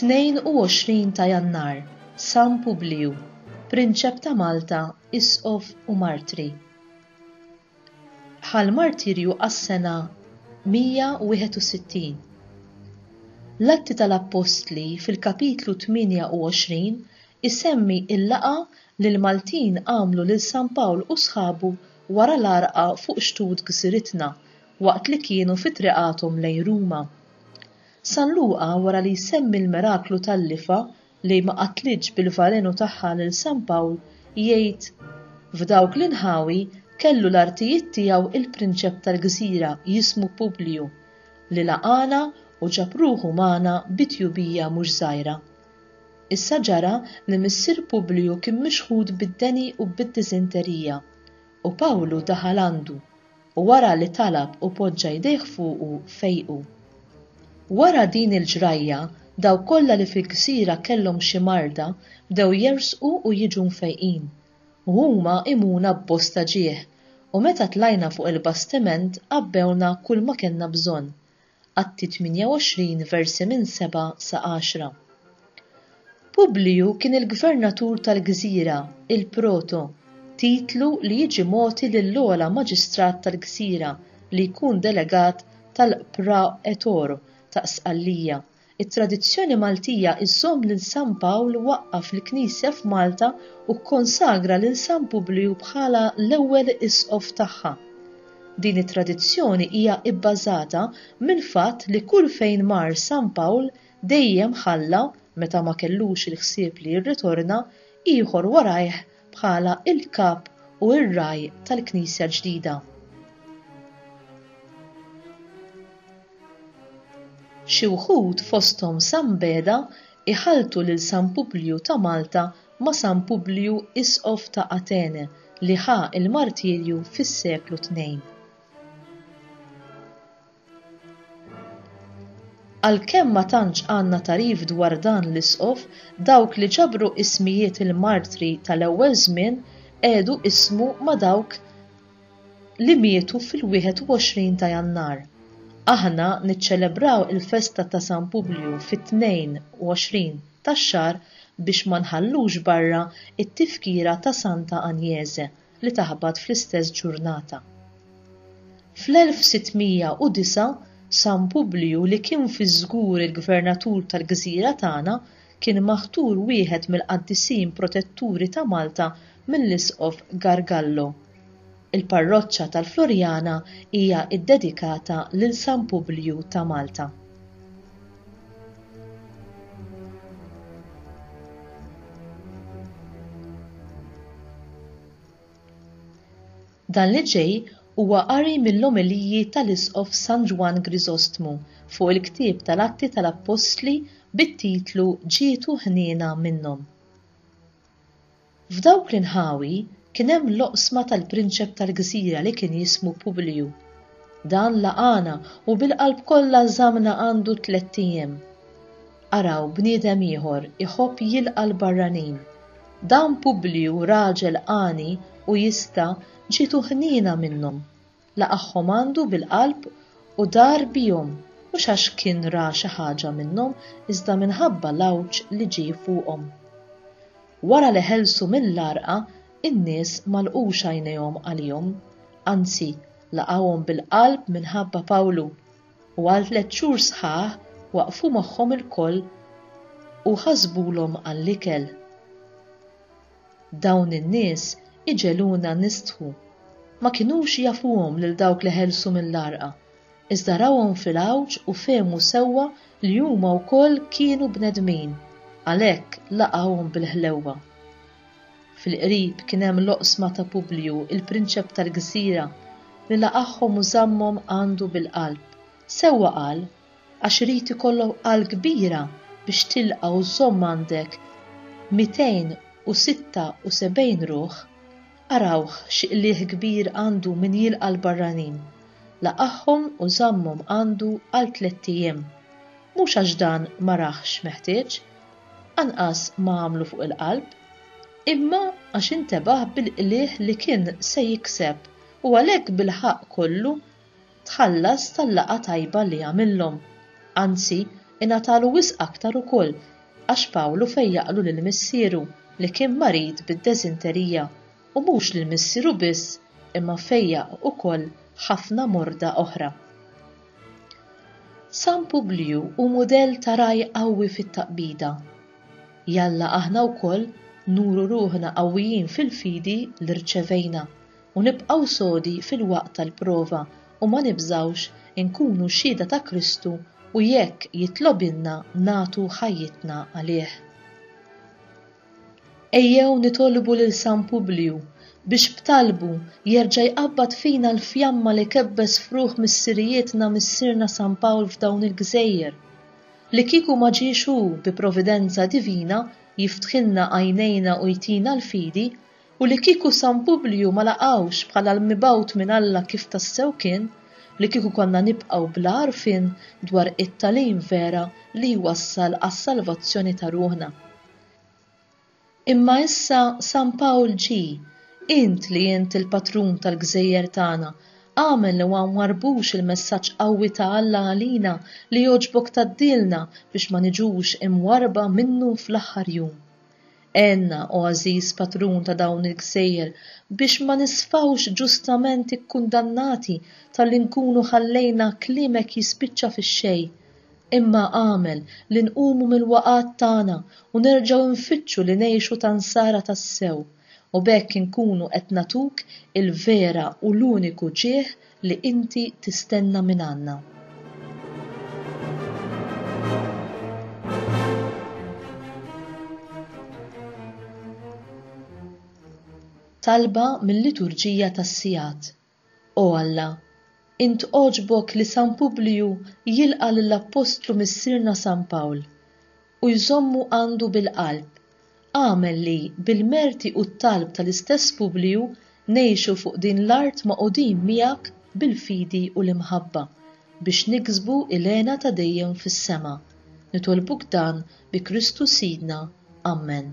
Tnejn u għoxrin ta' Jannar, San Publiju, Prinċep ta' Malta, Isqof u Martri. Ħa l-martirju għas-sena 161. L-Atti tal-Appostli fil-Kapitlu 28 isemmi l-laqgħa li l-Maltin għamlu lil San Pawl u sħabu wara l-għarqa fuq xtut gżiritna waqt li kienu fi triqathom lejn Ruma. San Luqa wara li jsemmi l-miraklu tal-lifa li ma qatlitx bil-valenu tagħha lil San Pawl, jgħid, F'dawk l-inħawi kellu l-artijiet tiegħu l-prinċep tal-gżira jismu Publiju, li laqagħna u ġab ruħu magħna bi tjubija mhux żgħira. Issa ġara li missier Publiju kien mixħut bid-deni u bid-diżenterija, u Pawlu daħal għandu, u wara li talab u poġġa jdejh fuqu fejqu. Wara din il-ġrajja dawk kollha li fil-gżira kellhom xi marda bdew jersqu u jiġu mfejqin, u huma għimuna b'bosta ġieħ, u meta tlajna fuq il-bastiment għabbewna kulma kellna bżonn, Atti 28 versi minn 7 sa 10. Publiju kien il-gvernatur tal-gżira, il-proto, titlu li jiġi mogħti lill-ogħla maġistrat tal-gżira li jkun delegat tal-praetor ta' Sqallija It-tradizzjoni Maltija żżomm lil San Pawl waqqaf l-Knisja f'Malta u kkonsagra lil San Publiju bħala l-ewwel Isqof tagħha. Din it-tradizzjoni hija bbażata mill-fatt li kull fejn mar San Pawl dejjem ħalla, meta ma kellux il-ħsieb li jirritorna, ieħor warajh bħala l-Kap u r-Ragħaj tal-Knisja l-ġdida. Xi wħud fosthom San Beda jħalltu lil San Publju ta' Malta ma' San Publju Isqof ta' Atene li ħa l-martirju fis-seklu tnejn. Għalkemm ma tantx għandna tagħrif dwar dan l-isqof, dawk li ġabru ismijiet il-martri tal-ewwel żmien qegħdu ismu ma' dawk li mietu fil-21 ta' Jannar. Aħna niċċelebraw il-festa ta' San Publju fit-22 tax-xahar biex ma nħallux barra t-tifkira ta' Santa Agnese li taħbat fl-istess ġurnata. Fl-1609 San Publju li kien fiż-żgur il-gvernatur tal-gżira tagħna kien maħtur wieħed mill-qaddisin protetturi ta' Malta mill-Isqof Gargallo. Il-parroċċa tal-Floriana hija ddedikata lil San Publiju ta' Malta. Dan li ġej huwa qari mill-omeliji tal-Isqof San Ġwann Griżostmu fuq il-ktieb tal-Atti tal-Appostli bit-titlu Ġietu Ħniena Minnhom. F'dawk l-inħawi kien hemm l-oqsma tal-prinċep tal-gżira li kien jismu Publiju. Dan laqagħna u bil-qalb kollha żammna għandu tlett ijiem. Araw bniedem ieħor iħobb jilqa' l-barranin. Dan Publiju raġel għani u jista' ġietu ħniena minnhom. Laqagħhom għandu bil-qalb u dar bihom, mhux għax kien ra xi ħaġa minnhom iżda minħabba l-għawġ li ġie fuqhom. Wara li ħelsu mill-għarqa, in-nies ma lqux għajnejhom għalihom, anzi, laqgħuhom bil-qalb minħabba Pawlu, U għal tliet xhur sħaħ waqqfu magħhom ilkoll u ħasbulhom għall-ikel. Dawn in-nies iġegħluna nistħu. Ma kinux jafuhom lil dawk li ħelsu mill-għarqa, iżda rawhom fil-għawġ u fehmu sewwa li huma wkoll kienu bnedmin, għalhekk laqgħuhom bil-ħlewwa. Fil-qrib kien hemm l-oqsma ta' Publju, il-prinċep tal-gżira, li laqagħhom u żammhom għandu bil-qalb. Sewwa qal, Għax irid ikollok qalb kbira biex tilqa' u żżomm għandek mitejn u sitta u sebgħin ruħ. Arawh x'qligħ kbir għandu min jilqa' l-barranin. Laqagħhom u żammhom għandu għal tlett ijiem. Mhux għax dan ma rahx meħtieġ, anqas ma għamlu fuq il-qalb, imma għax intebaħ bil-qligħ li kien se jikseb u għalhekk bil-ħaqq kollu tħallas tal-laqgħa tajba li għamillhom. Anzi, ingħatalu wisq aktar ukoll għax Pawlu fejjaqlu lil missieru li kien marid bid-deżinterija, u mhux lil missieru biss imma fejjaq ukoll ħafna morda oħra. San Publiju hu mudell ta' ragħaj qawwi fit-taqbida. Jalla aħna wkoll nuru ruħna qawwijin fil-fidi li rċevejna u nibqgħu sodi fil-waqt tal-prova u ma nibżgħux inkunu xhieda ta' Kristu u jekk jitlobilna nagħtu ħajjitna għalih. Ejjew nitolbu lil San Publiju biex b'talbu jerġa' jqabbad fina l-fjamma li kebbes f'ruħ missirijietna Missierna San Pawl f'dawn il-gżejjer. Li kieku ma ġiex hu bi providenza divina jiftħilna għajnejna u jtina l-fidi, u li kieku San Publiju ma laqgħux bħala l-mibgħut minn Alla kif tassew kien, li kieku konna nibqgħu bla għarfien dwar it-tagħlim vera li jwassal għas-salvazzjoni ta' ruħna. Imma issa San Pawl ġie, int li int il-patrun tal-gżejjer tagħna, agħmel li ma nwarrbux il-messaġġ qawwi ta' Alla għalina li jogħġbok tgħaddilna biex ma niġux imwarrba minnu fl-aħħar jum. Għenna, o għażiż patrun ta' dawn il-gżejjer, biex ma nisfgħux ġustament ikkundannati talli nkunu ħallejna kliemek jispiċċa fix-xejn. Imma agħmel li nqumu mill-waqgħat tagħna u nerġgħu nfittxu li ngħixu ta' Nsara tassew, u b'hekk inkunu qed nagħtuk il-vera u l-uniku ġieħ li Inti tistenna mingħandna. Talba mil-Liturġija tas-Sigħat. O Alla, int għoġbok li San Publiju jilqa' lill-appostlu Missierna San Pawl, u jżommu għandu bil-qalb, agħmel li, bil-merti u t-talb tal-istess Publiju, ngħixu fuq din l-art magħqudin miegħek bil-fidi u l-imħabba, biex niksbu il-hena ta' dejjem fis-sema. Nitolbuk dan bi Kristu Sidna. Ammen.